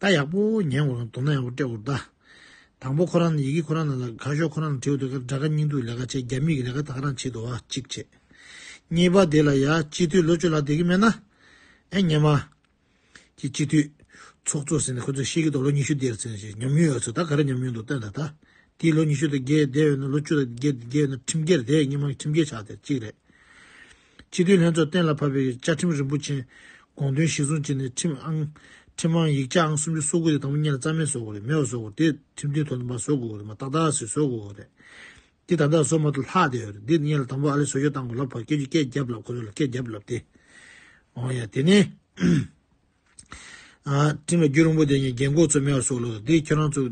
བལྟ་ཡག་པོ་ཉན་དགོས་ན་མདོར་ན་ཡག་པོ་སྤྲད་དགོས་རེད་ད། དང་པོ་ཁོ་རང་ནས་ཡི་གེ་ཁོ་རང་ནས་ལ་དགའ་ཤོག་ཁོ་རང་ནས་བྲིས་འོ་དོད་ཀ་དགྲ་དགའ་སྙིང་སྡུག་ལས་ཀ་བྱེད་རྒྱ་མི་ཡིག་ལས་ཀ་ད་ཁ་རང་བྱེད་དུ་བ་གཅིག་བྱེད། གཉིས་པ་དེ་ལ་ཡ་སྤྱི་འཐུས་ལོ་བཅུ་ལ་དེ་གི་མེད་ན། ཨེ་ཉན་མ། ཀྱི་སྤྱི་འཐུས། ཚོགས་གཙོ་ཟེར་ནས་ཁོ་ཚོས་ཤེས་ཀྱི་འདུག་ལོ་ཉི་ཤུ་དེར་ཟེར་ནས་ཉམས་མྱོང་ཡོད་ཚོད་ད་ག་རེ་ཉམས་མྱོང་འདུག་སྟོན་ད་ད། དེའི་ལོ་ཉི་ཤུ་དང་བརྒྱད་བསྡད་འོས་ན་ལོ་བཅུ་དང་བརྒྱད་བསྡད་འོས་ན་ཁྲིམས་འགལ་རེད་སྙིང་མ་ཁྲིམས་འགལ་ཆགས་དེ་གཅིག་རེད། སྤྱི་འཐུས་ལྷན་ཚོགས་གཏན་ལ་ཕབ་པའི་བཅའ་ཁྲིམས་རིན་པོ་ཆེན་དགོངས་དོན་གཞིར་བཟུང་བྱས་ནས་ཁྲིམས་ཨང། ཁྲིམས་དབང་ཡིག་ཆ་ཨང་སུམ་ཅུ་སོ་དགུ་དེ་དང་པོ་གཉེར་ལ་རྩ་མེད་བཟོ་དགོས་རེད་མེད་བཟོ་དགོས་དེ་ཁྲིམས་མཐུན་དོན་དུ་མ་བཟོ་དགོས་རེད་མ་ཏག་ཏག་ཞིག་བཟོ་དགོས་རེད། འདི་ད་ལྟ་བཟོ་མ་ཐུབ་ལྷག་བསྡད་ཡོད་རེད་འདི་གཉེར་ལ་དང་པོ་ཨ་ལེ་བཟོ་བཅོས་བཏང་དགོས་ལབ་ཕ་སྐད་ཆུ་སྐད་བརྒྱབ་ལབ་ཁོ་རེ་ལ་སྐད་བརྒྱབ་ལབ་དེ། འོང་ཡ་དེ་ནས། ཁྲིམས་ལ་རྒྱུས་རིང་པོ་བསྡད་ཉིན་རྒན་གོག་ཚོས་མེད་བཟོ་དགོས་ལབ་དེ་ཁྱོད་རང་ཚོ།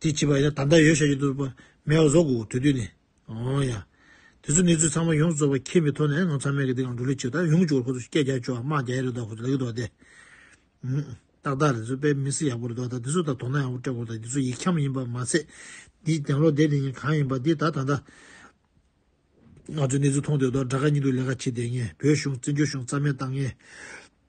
དེ་བྱས་པ་ཡིན་ན་ད་ལྟ་ཡོད་བྱ་རྒྱུ་འདུག་ལབ་ཕ་མེད་བཟོ་དགོས་དགོས་དུས་དུས་ནས། ཨོ་ཡ། དེ་ཚོ་གནས་ཚུལ་ཚང་མ་ཡོངས་རྫོགས་པ་མཁྱེན་པའི་ཐོག་ནས་ང་ཚང་མས་ཀྱི་འདི་གང་འགྲོ་ལུགས་ཅིག་དང་ཡོང་གི་འཇུག་ཁོ་ཚོ་སྐད་རྒྱག་ཆོག་དམག་རྒྱག་ཡས་རེད་དོ་ཁོ་ཚོ་ལ་ཡོད་དོ་དེ། ཏག་ཏག་རེད་ཚོ་པས་མི་སེ་ཡག་པོ་རེད་དོ་ད་འདི་ཚོ་ད་དོ་སྣང་ཡག་པོ་སྤྲད་དགོས་དང་འདི་ཚོ་ཡིག་འཁྱམ་ཡིན་པ་མ་ཚད། འདིའི་གདན་ལོག་དེ་དེ་ཉིན་གང་ཡིན་པ་འདི་ད་ད་ད། ང་ཚོས་གནས་ཚུལ་མཐོང་དོད་དོ་དགྲ་ཁ་གཉིས་འདུག་ལས་ཀ་བྱེད་བསྡད་ངེས་བོད་གཞུང་བཙན་བྱོལ་གཞུང་རྩ་མེད་བཏང་ངེས།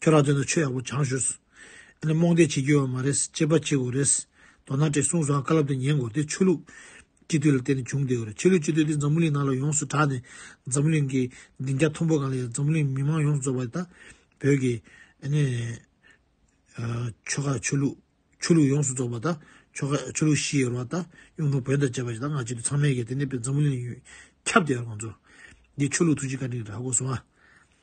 ཁྱོད་རང་ཚོ་ནི་ཆོས་ཡག་པོ་སྦྱང་ཞོར་སུ་ནི་རྨོངས་དད་བྱེད་རྒྱུ་ཡོད་མ་རེད་ཅེས་པ་ཅིག་འོ་རེད། མདོར་ན་བྲེལ་གསུངས་སུའང་བཀའ་སློབ་དེ་ཉན་དགོས་དེ་ཆོས་ལུགས་སྤྱི་འཐུས་ལ་བརྟེན་ནས་བྱུང་བསྡད་ཡོད་རེད་ཆོས་ལུགས་སྤྱི་འཐུས་དེ་འཛམ་བུ་གླིང་ནང་ལ་ཡོངས་སུ་གྲགས་ནས་འཛམ་བུ་གླིང་གི་སྡིངས་རྒྱ་མཐོན་པོ་གང་ལ་ཡང་འཛམ་བུ་གླིང་མི་མང་ཡོངས་སུ་རྫོགས་པ་དེ་དག་བོད་ཀྱི་ཆོལ་ཁ་ཆོས་ལུགས་ཆོས་ལུགས་ཡོངས་སུ་རྫོགས་པ་དང་ཆོལ་ཁ་ཆོས་ལུགས་ཤི་ཡོད་རེད་བ་དང་གཡུང་དྲུང་བོན་དང་བཅས་པ་ཞིག་དང་སྔ་ཕྱི་དུ་ཚང་མས་ཀྱང་དེ་ནས་འཛམ་བུ་གླིང་ལ་ཁྱབ་བསྡད་ཡོད་རེད་ང་ཚོར་འདིའི་ཆོས་ལུགས་ཐུགས་རྗེ་བཀའ་དྲིན་རེད་ཧ་གོ་སོང་ཨ།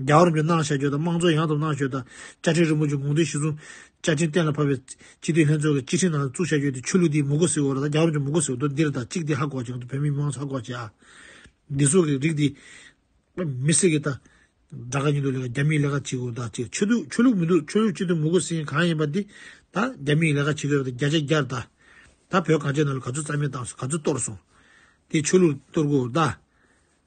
རྒྱ་གར་འཇོན་ཐང་བྱ་སྤྱོད་དང་དམངས་གཙོ་ཡང་དག་ནང་ཞོལ་དང་བཅའ་ཁྲིམས་རིན་པོ་ཆེ་དགོངས་དོན་གཞི་བཟུང། བཅའ་ཁྲིམས་གཏན་ལ་ཕབ་པའི་སྤྱི་འཐུས་ལྷན་ཚོགས་ཀྱི་སྤྱི་ཁྲིམས་ནང་བཙུགས་བྱ་སྤྱོད་དེ་ཆོས་ལུགས་དེའི་མུ་གོ་ཟེར་བོར་དང་རྒྱ་གར་འཇོན་མུ་གོ་ཟེར་བོར་འདིར་དང་གཅིག་དེ་ཧ་གོ་ཅིང་བོད་མི་མང་ཚོགས་ཧ་གོ་ཅིང། འདི་སོགས་ཀྱི་རིགས་དེ། མི་སེར་གྱི་ལྟ། དགྲ་དགའ་གཉིས་འདུག་ལས་ཀ་རྒྱ་མིའི་ལས་ཀ་བྱེད་དགོས་དང་བྱེད་ཆོས་ཆོས་ལུགས་མི་འདུག་ཆོས་ལུགས་སྤྱི་འཐུས་མུ་གོ་ཟེར་མཁན་གང་ཡིན་པ་དེ། ད་རྒྱ་མིའི་ལས་ཀ་བྱེད་དགོས་པ་དེ་རྒྱ་ཆ་རྒྱར་བལྟ། ད་བོད་གངས་ཅན་ནང་ལ་ག་ཚོད་རྩ་མེད་བཏང་སོང་ག་ཚོད་གཏོར་སོང། དེ་ཆོས་ལུགས་གཏོར་དགོས་དགོས་གདའ།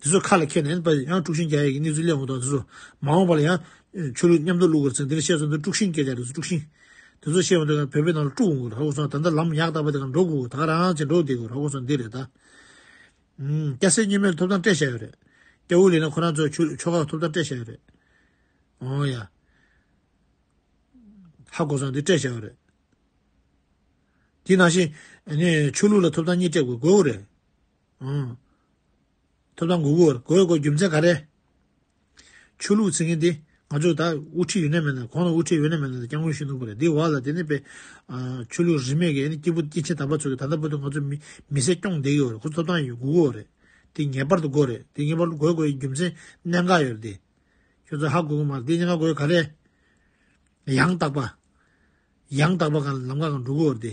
འདི་ཚོ་ཁ་ལ་ཁྱེར་ནས་པ་ཡང་དཀྲུག་ཤིང་རྒྱ་ཡིག་གི་གནས་ཚུལ་གླེང་འོང་དང་འདི་ཚོ་མ་འོང་པ་ལ་ཡང་ཆོས་ལུགས་མཉམ་དུ་བླུག་དགོས་རེད་ཟེར་འདི་ལ་བཤད་ཚོད་འདི་དཀྲུག་ཤིང་སྐད་ཆ་རེད་ཟེར་དཀྲུག་ཤིང་དེ་ཚོ་བཤད་འོང་དུས་བོད་པའི་ནང་ལ་དཀྲུག་འོང་དགོས་ར་གོ་སོང་ད་ལྟ་ལམ་ཡག་དག་པ་དེ་ག་འགྲོ་དགོས་ད་ག་རང་ཅེ་འགྲོ་བསྡད་དགོས་ར་གོ་སོང་འདི་རེད་ད། སྐྱ་སེར་གཉིས་མེད་ལ་ཐོབ་ཐང་སྤྲད་བཞག་ཡོད་རེད་སྐྱ་དབུགས་ལེན་ན་ཁོ་རང་ཚོའི་ཆོས་ལུགས་ཆོ་ག་ཐོབ་ཐང་སྤྲད་བཞག་ཡོད་རེད་ཨོ་ཡ། ཧ་གོ་སོང་འདི་སྤྲད་བཞག་ཡོད་རེད། དེ་ནང་བཞིན་ཆོས་ལུགས་ལ་ཐོབ་ཐང་གཉིས་སྤྲད་དགོས་དགོས་རེད། ཐོབ་ཐང་འགུག་དགོས་དགོས་དགོས་རྒྱུ་མཚན་ག་རེད། ཆོས་ལུགས་ཚིག་མཁན་དེ་ང་ཚོ་ད་དབུ་ཁྲིད་ཡོད་ན་མེད་ན་གོང་ན་དབུ་ཁྲིད་ཡོད་ན་མེད་ན་སྐྱབས་མགོན་ཞུས་འདུག་པ་རེད་འདི་བ་ལ་དེ་ནས་པའི་ཆོས་ལུགས་རིས་མེད་ཀྱི་ཨ་ནི་སྐྱིད་པོ་སྐྱིད་ཆེ་དམ་པ་ཚོ་གི་ད་ལྟ་བར་དུ་ང་ཚོ་མི་སེར་སྐྱོང་བསྡད་ཀྱི་ཡོད་རེད་ཁོ་ཚོ་ཐོབ་ཐང་ཡོད་འགུག་དགོས་རེད་དེ་ངེས་པར་དུ་དགོས་རེད་དེ་ངེས་པར་དུ་དགོས་དགོས་ཀྱི་རྒྱུ་མཚན་གནད་འགག་ཡོད་རེད་དེ། ཁྱོད་ཚོ་ཧ་གོ་གི་མ་རེད་དེ་གཉིས་ཀ་དགོས་ག་རེད། ཡང་དག་པ། ཡང་དག་པ་གང་ལ་ལམ་ཁ་གང་འགྲོ་དགོས་རེད་དེ།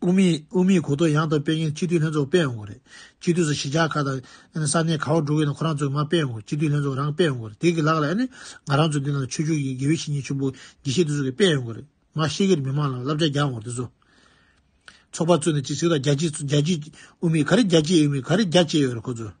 དབུ་མེད་དབུ་མེད་གོ་ཐོག་ཡང་དག་སྤེལ་མཁན་སྤྱི་འཐུས་ལྷན་ཚོགས་སྤེལ་ཡོང་དགོས་རེད། སྤྱི་འཐུས་སུ་གཞིས་ཆགས་ཁག་དང། ས་གནས་ག་བ་འགྲོ་གི་ཡིན་ན་ཁོ་རང་ཚོས་མ་སྤེལ་ཡོང་དགོས་སྤྱི་འཐུས་ལྷན་ཚོགས་རང་སྤེལ་ཡོང་དགོས་རེད་དེ་གི་ལག་ལས་ནི། ང་རང་ཚོས་འདི་ནང་ཆོས་བརྒྱུད་ཀྱི་དགེ་བའི་བཤེས་གཉེན་ཆེན་པོ་དགེ་བཤེས་དེ་ཚོ་གི་སྤེལ་ཡོང་དགོས་རེད། མ་ཤེས་ཀི་རེད་མི་མང་ལ་བསླབ་བྱ་རྒྱག་ཡོང་དགོས་རེད་དེ་ཚོ། ཚོགས་པ་བཙུགས་ནས་ཅི་ཟེར་དང་རྒྱ་སྤྱིས་རྒྱ་སྤྱིས་དབུ་མེད་ག་རེ་རྒྱ་སྤྱིས་དབུ་མེད་ག་རེ་རྒྱ་བཅས་ཡོད་རེད་ཁོ་ཚོས།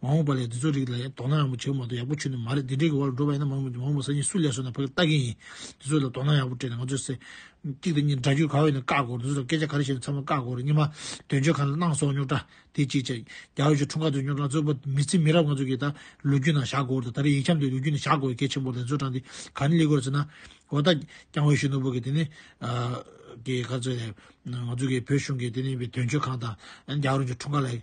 མ་འོངས་པ་ལས་འདི་ཚོ་རིགས་ལ་དོ་སྣང་ཡག་པོ་བྱེད་མ་ཐུབ་ཡག་པོ་ཆུད་ནས་མ་རེད་འདི་འདྲའི་གི་བར་ལ་འགྲོ་བ་ཡིན་ན་མ་འོངས་པ་སང་ཉིན་སུ་ལས་སོ་ན་ཕ་གི་ལྟ་གི་ཡིན་འདི་ཚོ་ལ་དོ་སྣང་ཡག་པོ་སྤྲད་ནས་ང་ཚོས་སེ། གཅིག་དང་གཉིས་འདྲ་རྒྱུ་ག་བས་ན་བཀག་དགོས་འདི་ཚོ་ལ་སྐད་ཆ་ག་རེ་བཤད་ན་ཚང་མ་བཀག་དགོས་རེད་གཉིས་མ་དོན་གཅོད་ཁང་ལ་གནང་སོང་རྙོག་དྲ་དེ་གཅིག་བྱས་རྒྱ་བོད་ཀྱི་འཁྲུངས་སྐར་དུ་རྙོག་དྲ་གཙོས་པ་མི་ཚེ་མི་རབས་ང་ཚོ་གི་ད་ལོ་རྒྱུས་ནང་བཞག་དགོས་རེད་ད་རེ་ཡིག་འཁྱམ་དེ་ལོ་རྒྱུས་ནང་བཞག་དགོས་གལ་ཆེན་པོ་རེད་འཛོལ་དྲང་དེ་ག་ནི་གླེ་དགོས་རེད་ཟེར་ན། འོ་ད་རྐྱང་བོད་གཞོན་ནུ་བོ་གི་དེ་ནི། གི་ག་ཚོད་རེད་ང་ཚོ་གི་བོད་གཞུང་གི་དེ་ནི་དོན་གཅོད་ཁང་དང་རྒྱ་བོད་རང་གི་འཁྲུངས་སྐར་ལ་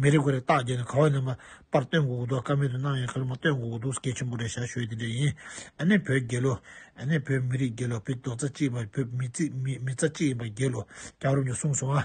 མི་རེ་འགོ་རེ་རྟགས་བརྒྱད་ནས་ག་བ་ནས་མ་པར་སྟོན་དགོས་གོ་འདུག་ཀ་མེད་དུ་སྣང་ཡང་ཁ་ལོ་མ་སྟོན་དགོས་གོ་འདུག་སྐད་ཆེན་པོ་རེ་བྱ་ཞོད་དེ་འདྲ་ཡིན་ཨ་ནེ་བོད་རྒྱལ་ལོ། ཨ་ནེ་བོད་མི་རིགས་རྒྱལ་ལོ་བོད་རྡོ་རྩ་གཅིག་ཡིན་པ་བོད་མི་རྩ་གཅིག་ཡིན་པ་རྒྱལ་ལོ་རྒྱ་གར་བ་མི་གསུངས་སོང་ཨ།